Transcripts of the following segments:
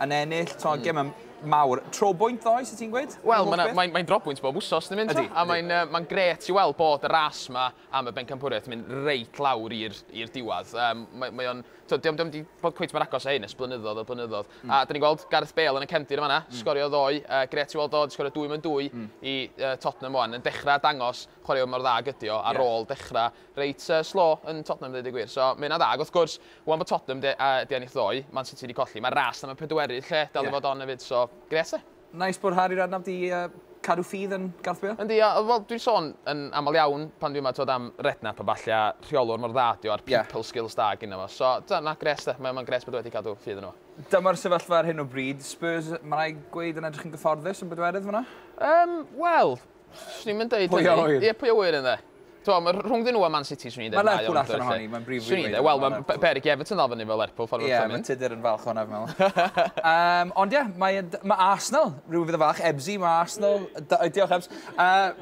yn ennill, to, mm. gym mawr. Trobwynt ddoe, sy'n ti'n gweud? Wel, mae'n mae, mae drobwynt bob wsos yn mynd. Ydy, a mae'n uh, mae gret i weld bod y ras yma am y bencampwriaeth yn mynd reit lawr i'r diwedd. Um, mae, mae o'n... Diolch ddim wedi bod cweith mae'r agos o hyn, ys blynyddoedd o blynyddoedd. Mm. A dyn ni'n gweld Gareth Bale yn y cefndir yma, mm. sgorio ddoe. Uh, gret i weld o, sgorio dwy mewn dwy mm. i uh, Tottenham o'n. Yn dechrau dangos chwaraeon mor dda gydio ar yeah. ôl dechrau Reit slow yn Tottenham ddeud y gwir, so mae hynna'n dda. Ac wrth gwrs, 'wan bod Tottenham 'di a 'di ennill ddoe, Man City 'di colli, mae'r ras am y pedwerydd lle dal i fod on efyd, so grêt 'de. Neis bod Harry Redknapp 'di cadw ffydd yn Garth Bale. Yndi, a wel dwi'n sôn yn aml iawn pan dwi yma t'wod am Redknapp a ballu a rheolwr mor dda ydi o a'r people skills da gynno fo, so t'wod na grêt 'de, mae o mae'n grêt bod o wedi cadw ffydd yno fo. Dyma'r sefyllfa ar hyn o bryd, Spurs ma' rai' gweud yn edrych yn gyfforddus yn bedwerydd fan'na? Yym wel, Swn i'n dweud hynny. Pwy a ŵyr? Ie, pwy a ŵyr yn dde. Twa, mae rhwngddyn nhw a Man City, swn i'n dweud. Mae Lerpwl allan ohoni, mae'n brif rwy'n dweud. Wel, mae Berig Everton ddal fyny fel Lerpwl, ffordd o'r tymyn. Ie, mae Tudur yn falch o'na, fi'n meddwl. Ond ie, mae, mae Arsenal, rhyw fydd yn falch, Ebsi, mae Arsenal, diolch Ebs, uh,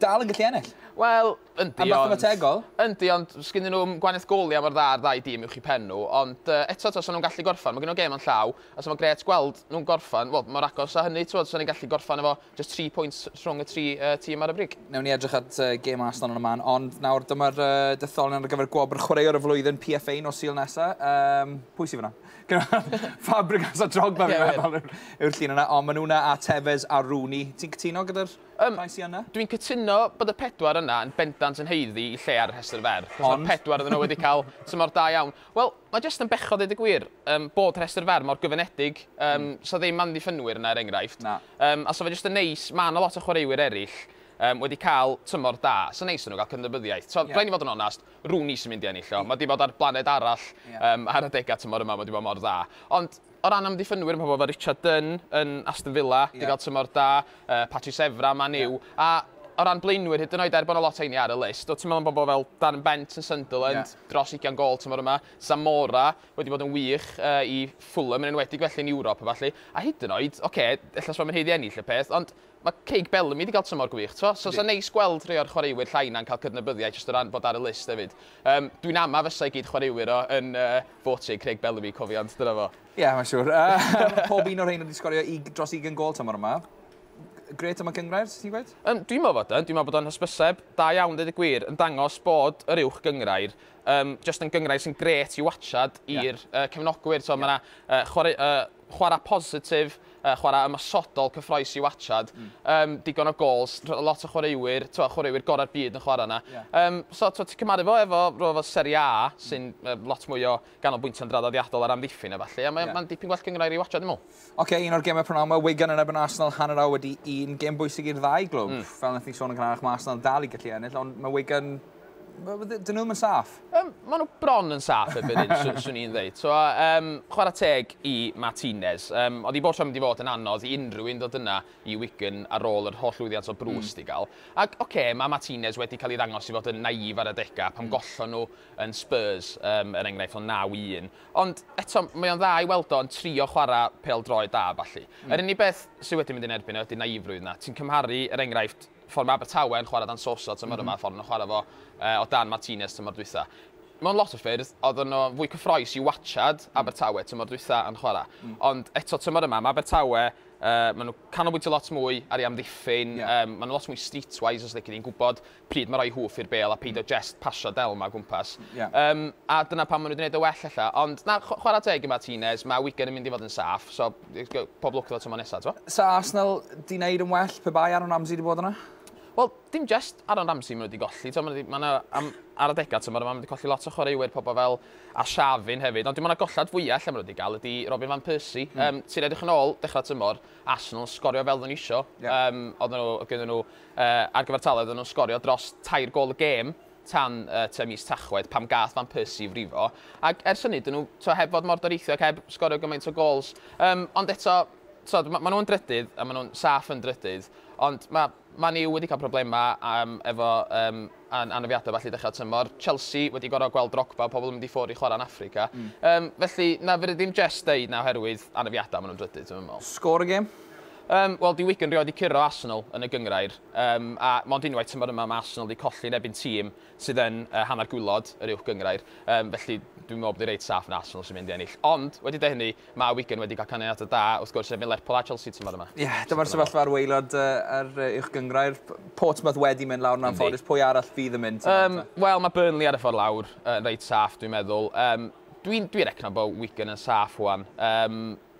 dal yn gallu ennill. Wel, yndi, ond... A mathemategol? Yndi, ond sgyn nhw gwanaeth goli am o'r dda'r ddau dîm i'w chi pen nhw, ond uh, eto, tos nhw'n gallu gorffan, mae gen nhw gêm o'n llaw, a so mae gret gweld nhw'n gorffan, wel, mor agos a hynny, ti'n bod, so ni'n gallu gorffan efo Jyst tri pwynt rhwng y tri uh, tîm ar y brig. Newn ni edrych at uh, gêm Arsenal yn y man, ond nawr dyma'r uh, detholion ar gyfer gwobr chwaraewr y flwyddyn PFA nos Sul nesa. Um, pwy sydd fyna? Fabregas a Drogba fi'n meddwl yw'r llun yna, ond maen nhw'na a Tevez a Rooney. Ti'n cytuno gyda'r um, rhai sy'n yna? Dwi'n cytuno bod y pedwar yna yn bendant yn heiddi i lle ar y rhestr fer. Ond? pedwar ydyn nhw wedi cael tymor da iawn. Wel, mae jyst yn bechod dweud y gwir um, bod rhestr fer mor gyfynedig. Um, mm. So ddim ffynwyr yna er enghraifft. Na. Yym a so fe jyst yn neis, ma' 'na lot o chwaraewyr eryll yym wedi ca'l tymor da, so neis iddyn nhw ga'l cydnabyddiaeth. T'od rhaid ni fod yn onast, Rooney sy'n mynd i ennill o, ma' 'di bod ar blaned arall yym ar adega tymor yma, ma' 'di bod mor dda. Ond o ran amddiffynwyr ma' pobl fel Richard Dunne yn Aston Villa 'di ga'l tymor da, yy Patrice Evra Man U, a o ran blaenwyr hyd yn oed er bo' 'na lot o heini ar y list, o ti'n meddwl am bobl fel Darren Bent yn Sunderland, dros ugian gôl tymor yma, Zamora, wedi bod yn wych i Fulham yn enwedig felly yn Ewrop a ballu, a hyd yn oed, ocê, ella os mae'n haeddu ennill y peth, ond mae Craig Bellamy wedi cael tymor gwych, t'mo'? So 'sa'n neis gweld rhai o'r chwaraewyr llai yna'n cael cydnabyddiaeth jyst o ran bod ar y list hefyd. Um, dwi'n ama fysa i gyd chwaraewyr o yn uh, Fortune, Craig Bellamy, cofiant, dyna fo. Ie, yeah, mae'n siŵr. Uh, pob un o'r rhain wedi sgorio i, dros 20 gol tymor yma. Gret am y gyngrair, ti'n gweud? Um, dwi'n meddwl bod yn, dwi'n meddwl bod o'n hysbyseb da iawn, dweud y gwir, yn dangos bod yr uwch gyngrair um, just yn gyngrair sy'n gret i watchad i'r yeah. uh, cefnogwyr. So, yeah. Mae yna uh, chwarae, uh, chwarae positif, uh, chwarae ymosodol cyffroes i watchad. Mm. Um, digon o gols, lot o chwaraewyr, twa, chwaraewyr gorau'r byd yn chwarae yna. Yeah. Um, so, ti'n cymaru fo efo rhywbeth fel Serie A, mm. sy'n mm. uh, lot mwy o ganolbwyntio'n draddodiadol ar amddiffyn efallai. A mae'n yeah. ma dipyn gwell gyngrair i watchad, dwi'n meddwl. Ok, un o'r gemau prynawn yma, Wigan yn ebyn Arsenal hanner awr wedi un. Gem bwysig i'r ddau glwb. Mm. Fel nes ni sôn yn gynharach, mae Arsenal dal i gallu ennill, ond mae Wigan... Dyn nhw'n yn saff. Um, mae nhw bron yn saff erbyn hyn, swn, swn i'n ddeud. So, um, chwarae teg i Martinez. Um, oedd i bob tro mynd i fod yn anodd i unrhyw un ddod yna i Wigan ar ôl yr holl lwyddiant o brws mm. i gael. Ac, oce, okay, mae Martinez wedi cael ei ddangos i fod yn naif ar y degau pan mm. gollon nhw yn Spurs, um, er enghraifft, o 9-1. Ond eto, mae o'n dda i weld o yn trio chwarae pêl-droed da a ballu. Yr unig beth sydd wedi mynd yn erbyn e ydy naifrwydd 'na. Ti'n cymharu, er enghraifft, ffordd mae Abertawe yn chwarae dan Sosa tymor yma a ffordd maen nhw'n chwarae fo o dan Martinez tymor dwytha. Mewn lot o ffyrdd, oedden nhw fwy cyffroes i watsiad Abertawe tymor dwytha yn chwarae. Ond eto, tymor yma, mae Abertawe, maen nhw'n canolbwyntio lot mwy ar ei amddiffyn, maen nhw'n lot mwy streetwise, os lici di'n gwybod. pryd ma roi hwf i'r bêl a peidio jest pasio del 'ma o gwmpas. Ie. Yym, a dyna pam ma nhw 'di neud e well ella. Ond na, chw- chwarae teg i Martinez, ma Wigan yn mynd i fod yn saff, so pob lwc iddo tymor nesa, t'mo? Sa Arsenal 'di neud yn well pe bai Aaron Ramsey 'di bod yna? Wel, dim jest Aaron Ramsey ma nhw 'di golli, t'mo, ma' 'na 'di- ma' 'na am ar adega tymor yma ma' nhw 'di colli lot o chwaraewyr pobl fel Arshavin hefyd, ond dwi me'wl na gollad fwya ella ma nhw 'di ga'l ydi Robin van Persie. Yym, ti'n edrych yn ôl dechra tymor, Arsenal yn sgorio fel odden nhw isio. Ie. Yym, odden nhw o' gynno nhw ar gyfartaledd oedden nhw'n sgorio dros tair gôl y gêm tan tua mis Tachwedd pam gath Van Persie i frifo ac ers hynny dyn nhw t'o' heb fod mor doreithiog heb sgorio gymaint o gols Yym ond eto t'od ma' ma' nhw'n drydydd a ma' nhw'n saff yn drydydd ond ma' Man U wedi cael problema yym efo yym an- anafiadau felly dechrau tymor Chelsea wedi gorfod gweld Drogba pobl yn mynd i ffwr' i chwarae yn Affrica hmm. Yym felly na fedri ddim jest deud na oherwydd anafiadau ma' nhw'n drydydd dwi'm yn me'wl. Sgôr y gêm? Yym, wel, di Wigan rioed di curo Arsenal yn y gynghrair, yym, a mond unwaith tymor yma mae Arsenal di colli yn ebyn tîm sydd yn yy hanner gwylod yr uwch gynghrair, yym, felly dwi'n meddwl bod hi reit saff yn Arsenal sy'n mynd i ennill. Ond, wedi dweud hynny, mae Wigan wedi cael canlyniadau da, wrth gwrs, ebyn Lerpwl a Chelsea tymor yma. Ie, dyma'r sefyllfa ar waelod yy yr yy uwch gynghrair. P- Portsmouth wedi mynd lawr yn anffodus, pwy arall fydd yn mynd? Yym, wel, mae Burnley ar y ffordd lawr yn reit saff, dwi'n meddwl. Yym, dwi'n dwi recno bod Wigan yn saff wan. Yym,